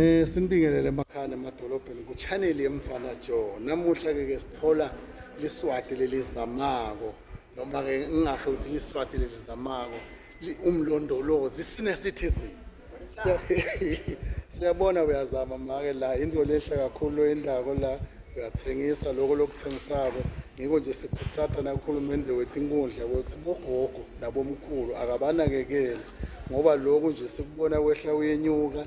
Eh sinibingelele emakhaya emadolobheni ku channel yemfana Joe. Namuhla ke ke sithola liswati lelizamako noma ke ngingasho ukuthi liswati lelizamako umlondolozi sine citizen. Siyabona uyazama make la into lehle kakhulu endako la uyathengisa lokho lokuthengisako ngiko nje sikhuthata nakuhulumende wethu inkundla ukuthi bogogo nabomkhulu akabanakekele ngoba lokhu nje sikubona kwehla uyenyuka